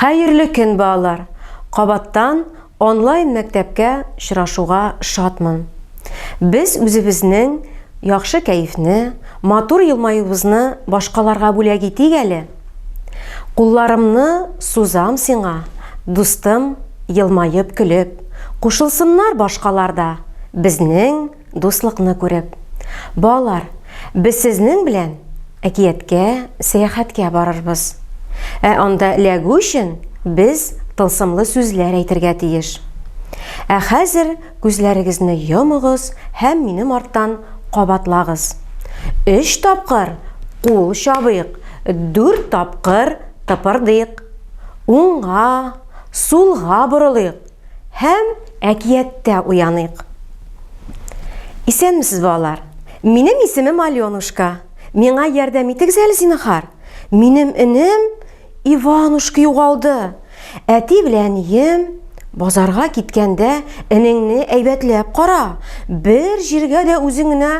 Хәерле көн балалар! Кабаттан онлайн мәктәпкә очрашуга шатмын. Без үзебезнең яхшы кәефне, матур елмаюыбызны башкаларга бүләк итик әле! Кулларымны сузам сиңа, дустым, елмаеп, көлеп, кушылсыннар башкалар да безнең Дуслыкны күреп. Балалар, без сезнең белән әкияткә, сәяхәткә барырбыз. Ә анда эләгү өчен без тылсымлы сүзләр әйтергә тиеш. Ә хәзер күзләрегезне йомыгыз һәм минем арттан кабатлагыз. Өч тапкыр кул чабыйк, дүрт тапкыр тыпырдыйк. Уңга, сулга борылыйк. һәм әкияттә уяныйк. Исәнмесез, балалар! Минем исемем Аленушка. Миңа ярдәм итегез әле, зинһар. Минем энем Иванушка югалды. Әти белән ием базарга киткәндә, энеңне әйбәтләп кара, бер җиргә дә үзең генә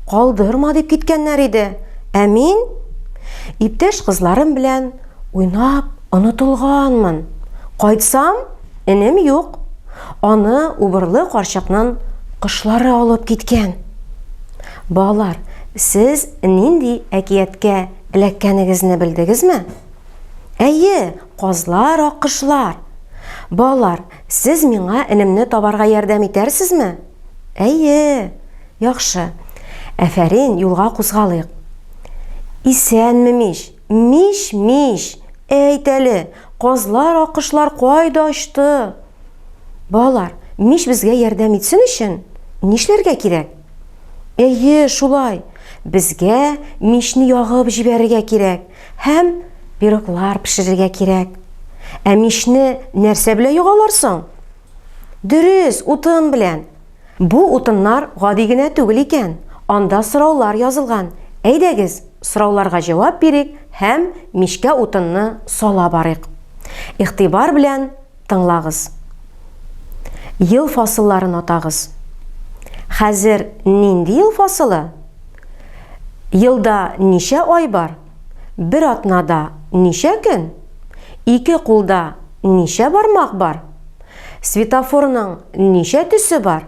калдырма дип киткәннәр иде. Ә мин иптәш кызларым белән Уйнап онытылганмын. Кайтсам, энем юк. Аны Убырлы карчыкның кошлары алып киткән. Балалар, сез нинди әкияткә эләккәнегезне белдегезме? Әйе, казлар, аккошлар. Балалар, сез миңа энемне табарга ярдәм итәрсезме? Әйе. Яхшы. Әфәрин, юлга кузгалыйк. Исәнме мич! Мич, мич, әйт әле, казлар, аккошлар кайда очты? Балалар, мич безгә ярдәм итсен өчен нишләргә кирәк? Әйе, шулай. Безгә мичне ягып җибәрергә кирәк һәм пироглар пешерергә кирәк. Ә мичне нәрсә белән ягалар соң? Дөрес, утын белән. Бу утыннар гади генә түгел икән, анда сораулар язылган. Әйдәгез, сорауларга җавап бирик һәм мичкә утынны сала барыйк. Игътибар белән тыңлагыз. Ел фасылларын атагыз. Хәзер нинди ел фасылы? Елда ничә ай бар? Бер атнада ничә көн? Ике кулда ничә бармак бар? Светофорның ничә төсе бар?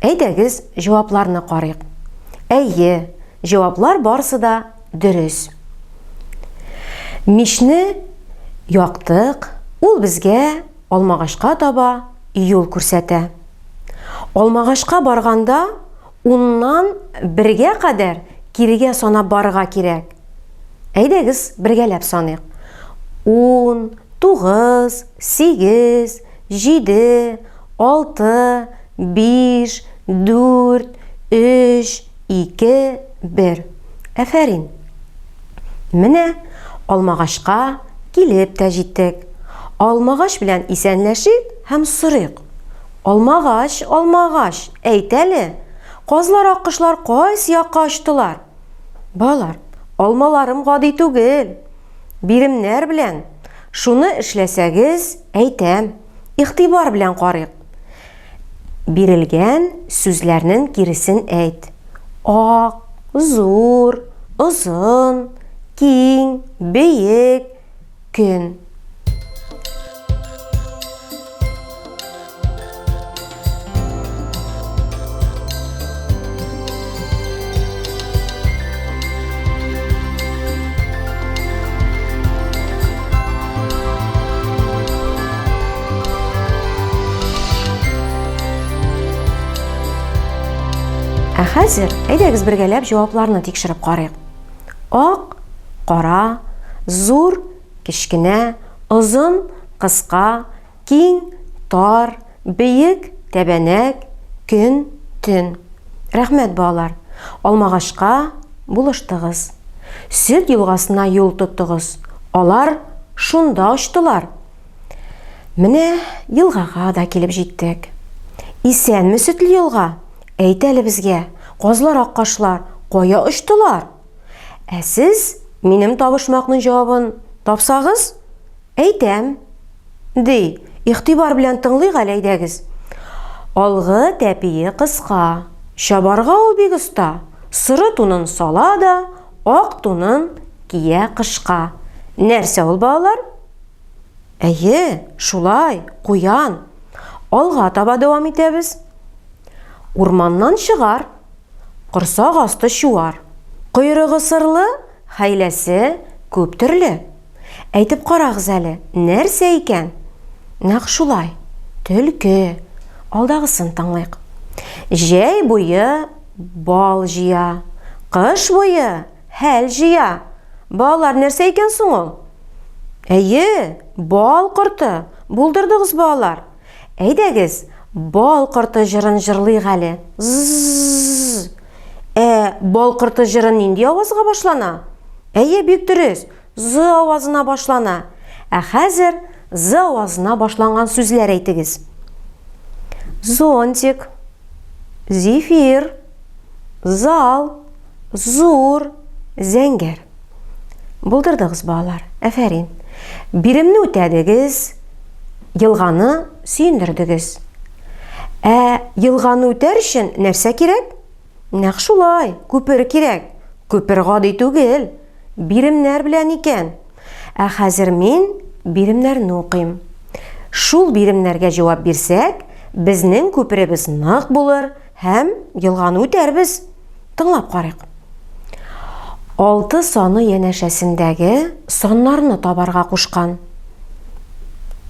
Әйдәгез, җавапларны карыйк. Әйе, җаваплар барысы да дөрес. Мичне яктык, ул безгә Алмагашка таба юл күрсәтә. Алмагашка барганда, Уннан бергә кадәр кирегә санап барырга кирәк. Әйдәгез, бергәләп саныйк. Ун, тугыз, сигез, җиде, алты, биш, дүрт, өч, ике, бер. Әфәрин! Менә алмагачка килеп тә җиттек. Алмагач белән исәнләшик һәм сорыйк. Алмагач, алмагач, әйт әле, казлар, аккошлар кайсы якка очтылар? Балалар, алмаларым гади түгел. Биремнәр белән шуны эшләсәгез, әйтәм. Игътибар белән карыйк. Бирелгән сүзләрнең киресен әйт. Ак, зур, озын, киң, бөек, көн. Ә хәзер әйдәгез бергәләп җавапларны тикшереп карыйк. Ак, кара, зур, кечкенә, озын, кыска, киң, тар, биек, тәбәнәк, көн, төн. Рәхмәт, балалар! Алмагашка булыштыгыз. Сөт елгасына юл тоттыгыз. Алар шунда очтылар. Менә елгага да килеп җиттек. Исәнме, сөтле елга? Әйт әле безгә, казлар аккашлар кая очтылар? Ә сез минем табышмакның җавабын тапсагыз, әйтәм. Ди, игътибар белән тыңлыйк әле әйдәгез. Алгы тәпие кыска, чабарга ул бик оста. Соры тунын сала да, ак тунын кия кышка. Нәрсә ул, балалар? Әйе, шулай, куян. Алга таба дәвам итәбез. Урманнан чыгар, корсак асты чуар. Койрыгы сырлы, хәйләсе күп төрле. Әйтеп карагыз әле, нәрсә икән? Нәкъ шулай, төлке. Алдагысын тыңлыйк. Җәй буе бал җыя, кыш буе Хәл җыя. Балалар нәрсә икән соң ул? Әйе, бал корты. Булдырдыгыз, балалар. Әйдәгез, бал корты җырын җырлыйк әле. З-з-з. Ә бал корты җыры нинди авазга башлана? Әйе, бик дөрес. Зы авазына башлана. Ә хәзер зы авазына башланган сүзләр әйтегез. Зонтик. Зефир. Зал. Зур. Зәңгәр. Булдырдыгыз, балалар. Әфәрин. Биремне үтәдегез. Елганы сөендердегез. Ә елганы үтәр өчен нәрсә кирәк? Нәкъ шулай, күпер кирәк. Күпер гади түгел. Биремнәр белән икән. Ә хәзер мин биремнәрне укыйм. Шул биремнәргә җавап бирсәк, безнең күперебез нык булыр һәм елганы үтәрбез. Тыңлап карыйк. Алты саны янәшәсендәге саннарны табарга кушкан.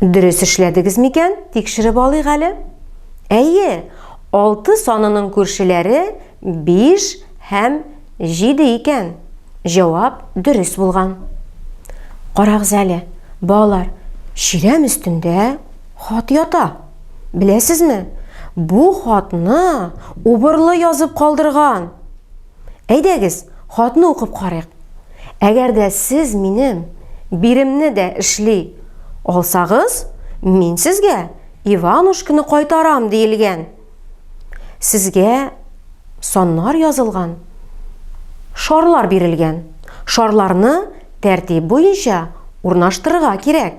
Дөрес эшләдегез микән? Тикшереп алыйк әле. Әйе, Алты санының күршеләре биш һәм җиде икән. Җавап дөрес булган. Карагыз әле, балалар, чирәм өстендә хат ята. Беләсезме, бу хатны убырлы язып калдырган. Әйдәгез, хатны укып карыйк. Әгәр дә сез минем биремне дә эшли алсагыз, мин сезгә Иванушканы кайтарам диелгән. Сезгә саннар язылган. Шарлар бирелгән. Шарларны тәртип буенча урнаштырырга кирәк.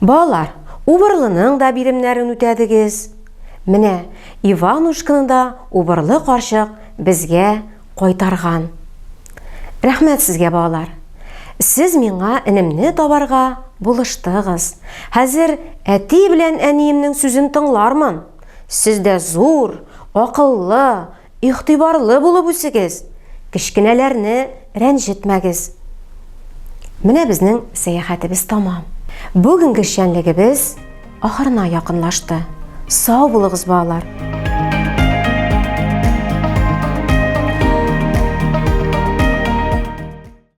Балалар, Убырлының да биремнәрен үтәдегез. Менә Иванушканы да Убырлы карчык безгә кайтарган. Рәхмәт сезгә, балалар. Сез миңа энемне табарга булыштыгыз. Хәзер әти белән әниемнең сүзен тыңлармын. Сез дә зур, акыллы, Игътибарлы булып үсегез, кечкенәләрне рәнҗетмәгез. Менә безнең сәяхәтебез тәмам. Бүгенге эшчәнлегебез ахырына якынлашты. Сау булыгыз, балалар!